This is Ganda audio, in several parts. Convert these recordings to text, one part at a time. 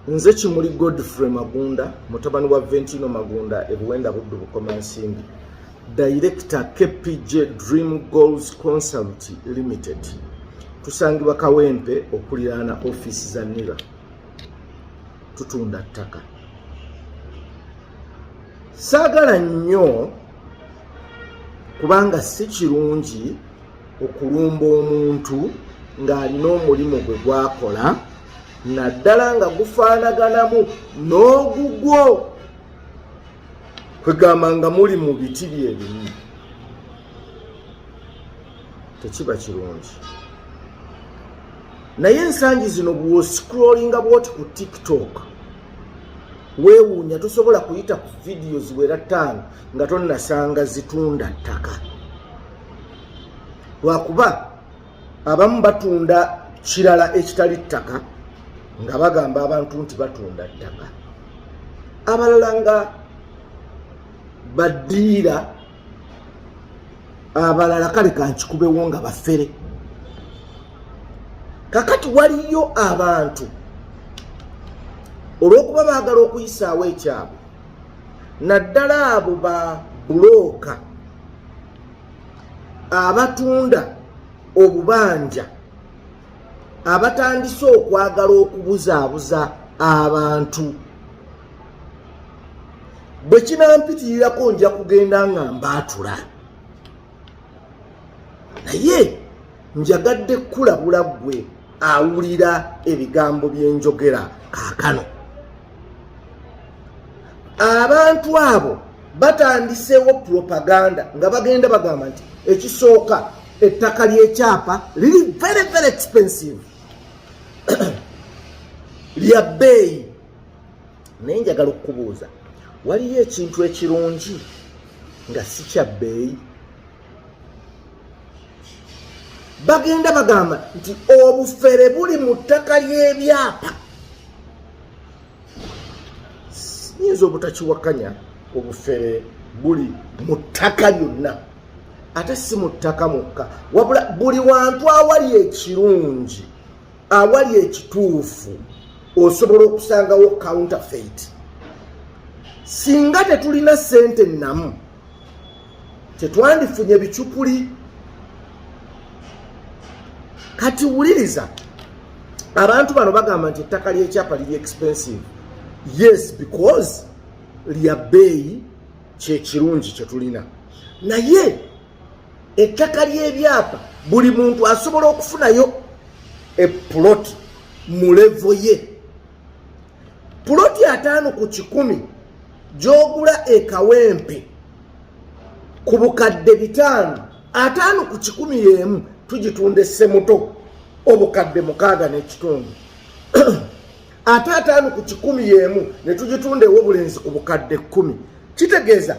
Nze Kimuli Godfrey Magunda mutabani wa Ventino Magunda e Buwenda Buddu Bukomansimbi director KPJ Dream Goals Consult Limited tusangibwa Kawempe okuliraana office za NIRA tutunda ttaka saagala nnyo kubanga si kirungi okulumba omuntu ng'alina omulimu gwe gwakola naddala nga gufaanaganamu n'ogugwo kwegamba nga muli mu biti byebimu tekiba kirungi naye ensangi zino bwoscrollinga bwoti ku tiktok weewuunya tosobola kuyita ku vidiyo ziwera ttaano nga tonnasanga zitunda ttaka lwakuba abamu batunda kirala ekitali ttaka nga bagamba abantu nti batunda ttaka abalala nga badiira abalala kale kankikubewo nga bafere kakati waliyo abantu olwokuba baagala okuyisaawo ekyabwe naddala abo ba bulooka abatunda obubanja abatandise okwagala okubuzaabuza abantu bwe kinampitirirako nja kugenda nga mbaatula naye njagadde kukulabula ggwe awulira ebigambo byenjogera kaakano abantu abo batandiseewo propaganda nga bagenda bagamba nti ekisooka ettaka lyekyapa liri very very expensive lya bbeeyi naye njagala okukubuuza waliyo ekintu ekirungi nga si kya bbeeyi bagenda bagamba nti obufere buli mu ttaka ly'ebyapa nyinza obutakiwakanya obufere buli mu ttaka lyonna ate si mu ttaka mukka wabula buli wantu awali ekirungi awali ekituufu osobola okusangawo counterfeit singa tetulina sente namu tetwandifunye bicupuli kati wuliriza abantu bano bagamba nti ettaka lyekyapa liri expensive yes because lya bbeeyi kyekirungi kyetulina naye ettaka lyebyapa buli muntu asobola okufunayo epuloti mu levo ye puloti ataano ku kikumi gyogula ekawempe ku bukadde bitaano ataano ku kikumi yemu tugitunda essemuto obukadde mukaaga n'ekitundu ate ataano ku kikumi yemu ne tugitunda ewobulenzi ku bukadde kkumi kitegeeza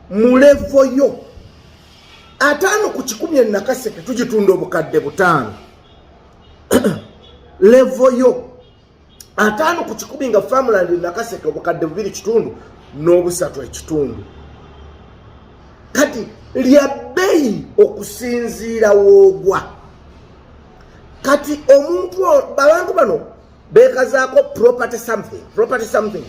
mulevo yo ataano ku kikumi enakaseke tugitunda obukadde butaano levo yo ataano ku kikumi nga farmland nakaseke obukadde bubiri kitundu n'obusatu ekitundu kati lya bbeyi okusinziira woogwa kati omuntu abantu bano bekazaako property something property something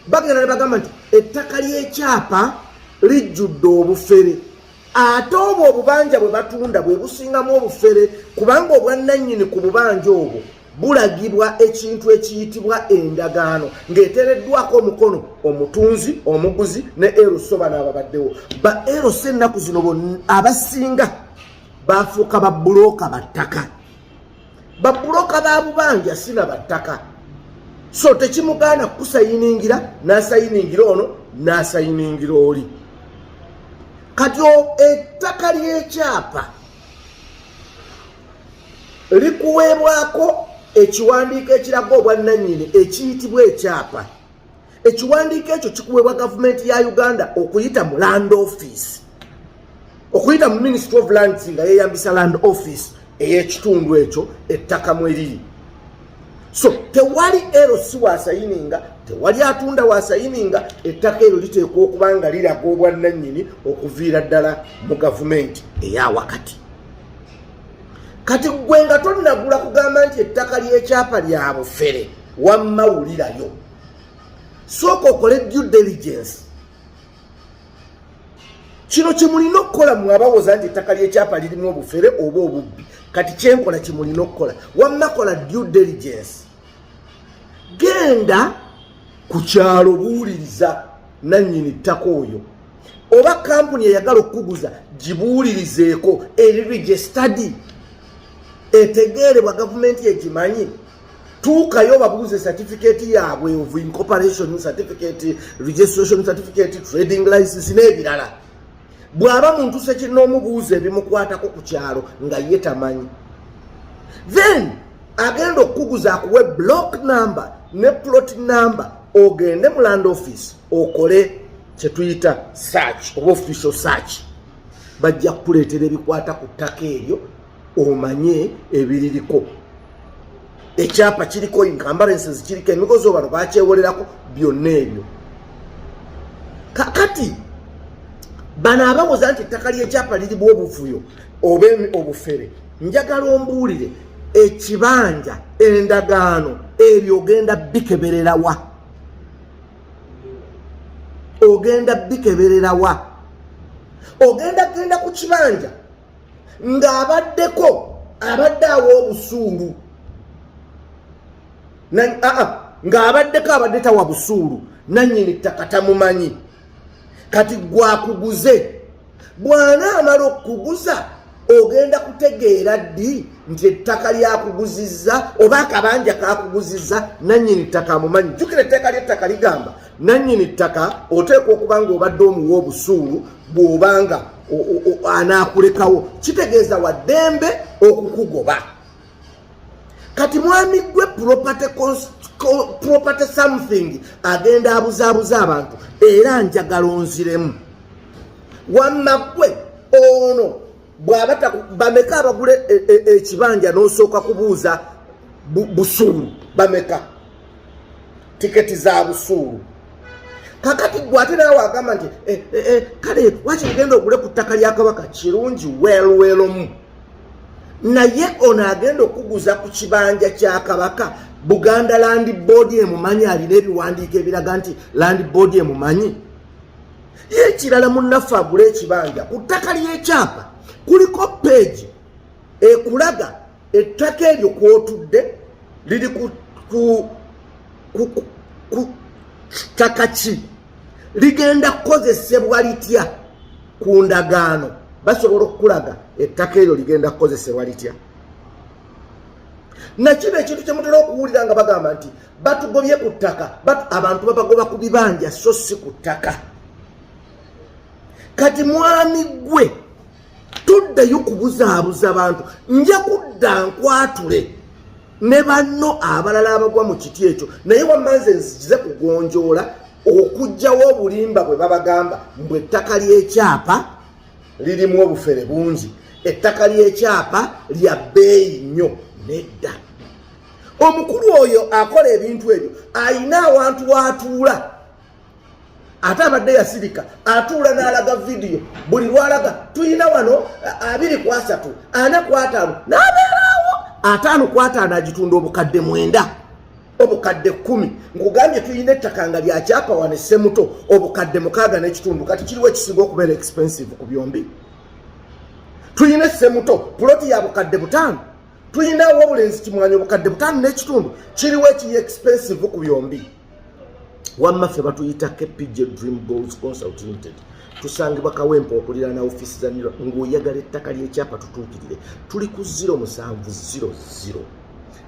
bagenda ne bagamba nti ettaka ly'ekyapa lijjudde obufere ate obwo obubanja bwe batunda bwe busingamu obufere kubanga obwannannyini ku bubanja obwo bulagibwa ekintu ekiyitibwa endagaano ng'etereddwako omukono omutunzi omuguzi ne eroso bano ababaddewo ba eroso ennaku zino abasinga bafuuka babbulooka battaka babbulooka ba bubanja sina battaka so tekimugaana kukusayiningira n'asayiningira ono n'asayiningira oli kati ettaka ly'ekyapa likuweebwako ekiwandiiko ekiraga obwannannyini ekiyitibwa ekyapa ekiwandiiko ekyo kikuweebwa gavumenti ya uganda okuyita mu land office okuyita mu ministry of lands nga yeyambisa land office ey'ekitundu ekyo ettaka mwe liri so tewali erosi wasayininga tewali atunda wasayininga ettaka eryo liteekwa okuba nga liraga obwannannyini okuviira ddala mu gavumenti eya wakati kati gwe nga tonnagula kugamba nti ettaka ly'ekyapa lya bufere wamma wulirayo sooka okole due diligence kino kyemulina okukola mwe abawoza nti ettaka ly'ekyapa lirimu obufere oba obubbi kati kyenkola kyemulina okukola wamma kola due diligence genda ku kyalo buwuliriza nannyini ttaka oyo oba kampuni eyagala okukuguza gibuulirizeeko eri registadi etegeerebwa gavumenti egimanyi tuukayo babuuze certificate yaabwe of incorporation certificate registration certificate trading license n'ebirala bw'aba muntu sekinoomubuuza ebimukwatako ku kyalo nga ye tamanyi then agenda okukuguza akuwe block number ne plot number ogende mu land office okole kyetuyita search oba official search bajja kukuleetera ebikwata ku ttaka eryo omanye ebiririko ekyapa kiriko encumbrances kiriko emigozi obano bakyewolerako byonna ebyo kakati bano abawoza nti ettaka lyekyapa lirimu obuvuyo oba obufere njagala ombuulire ekibanja endagaano ebyo ogenda bikebererawa ogenda bikebererawa ogenda genda ku kibanja ng'abaddeko abadde awa obusuulu ng'abaddeko abadde tawa busuulu nannyini ttaka tamumanyi kati gwakuguze bw'anaamala okukuguza ogenda kutegeera ddi nti ettaka lyakuguzizza oba akabanja kakuguzizza nannyini ttaka amumanyi jjukira etteeka ly'ettaka ligamba nannyini ttaka oteekwa okuba nga obadde omuwa obusuulu bw'oba nga anaakulekawo kitegeeza waddembe okukugoba kati mwami gwe property property something agenda abuzaabuza abantu era njagala onziremu wamma gwe ono bwaba bameka abagula e, e, e, ekibanja n'osooka kubuuza busuulu bameka tiketi za busuulu kakati gwe ate nawe wagamba nti eh, eh, eh, kale waki ogenda ogule ku ttaka lya kabaka kirungi welwelomu naye ono agenda okuguza ku kibanja kya kabaka buganda land board emumanyi alina ebiwandiiko ebiraga nti land board emumanyi yekirala munaffe agula ekibanja ku ttaka lyekyapa kuliko peegi ekulaga ettaka eryo kwotudde liri ku ttaka ki ligenda kukozesebwa litya ku ndagaano basobola okukulaga ettaka eryo ligenda kukozesebwa litya nakino ekintu kyemutera okuwulira nga bagamba nti batugobye ku ttaka abantu babagoba ku bibanja so si ku ttaka kati mwami gwe toddayo kubuzaabuza bantu nja kudda nkwatule ne banno abalala abagwa mu kiti ekyo naye wamanze nzikize kugonjoola okugjawo obulimba bwe babagamba mbu ettaka ly'ekyapa lirimu obufere bungi ettaka ly'ekyapa lya bbeeyi nnyo nedda omukulu oyo akola ebintu ebyo ayina awantu watuula ate abadde yasirika atuula n'alaga vidiyo buli lwalaga tulina wano abiri ku asatu ana ku ataano n'abeeraawo ataano ku ataano agitunda obukadde mwenda obukadde kkumi nkugambye tulina ettaka nga lya kyapa wano essemuto obukadde mukaaga n'ekitundu kati kiriwo ekisinga okubeera expensive ku byombi tulina essemuto puloti ya bukadde butaano tulinawo obulenzi kimwanyi obukadde butaano n'ekitundu kiriwo ekiri expensive ku byombi wamma ffe batuyita kpj dream goals consult limited tusangibwa kawempa okuliraana ofiisi za nira ng'oyagala ettaka ly'ekyapa tutuukirire tuli ku 0 musanvu 00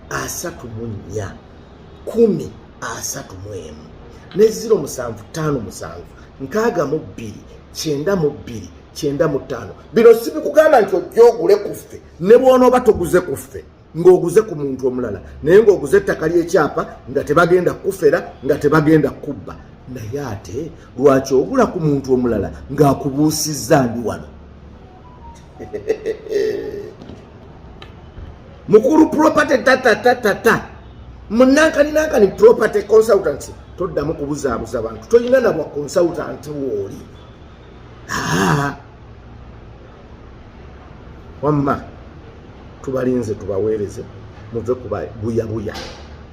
asatu mu nnya kumi asatu mu emu ne 0 musanvu ttaano musanvu nkaaga mu bbiri kyenda mu bbiri kyenda mu ttaano bino sibikugamba nti ojja ogule ku ffe ne bw'onooba toguze ku ffe ng'oguze ku muntu omulala naye ng'oguze ettaka ly'ekyapa nga tebagenda kukufera nga tebagenda kukubba naye ate lwaki ogula ku muntu omulala ng'akubuusizza ndi wano mukulu property tatatatata munankani-nankani property consultancy toddamu kubuzaabuza bantu tolina nabwa consultant wooli wamma tubalinze tubaweereze muve ku buyabuya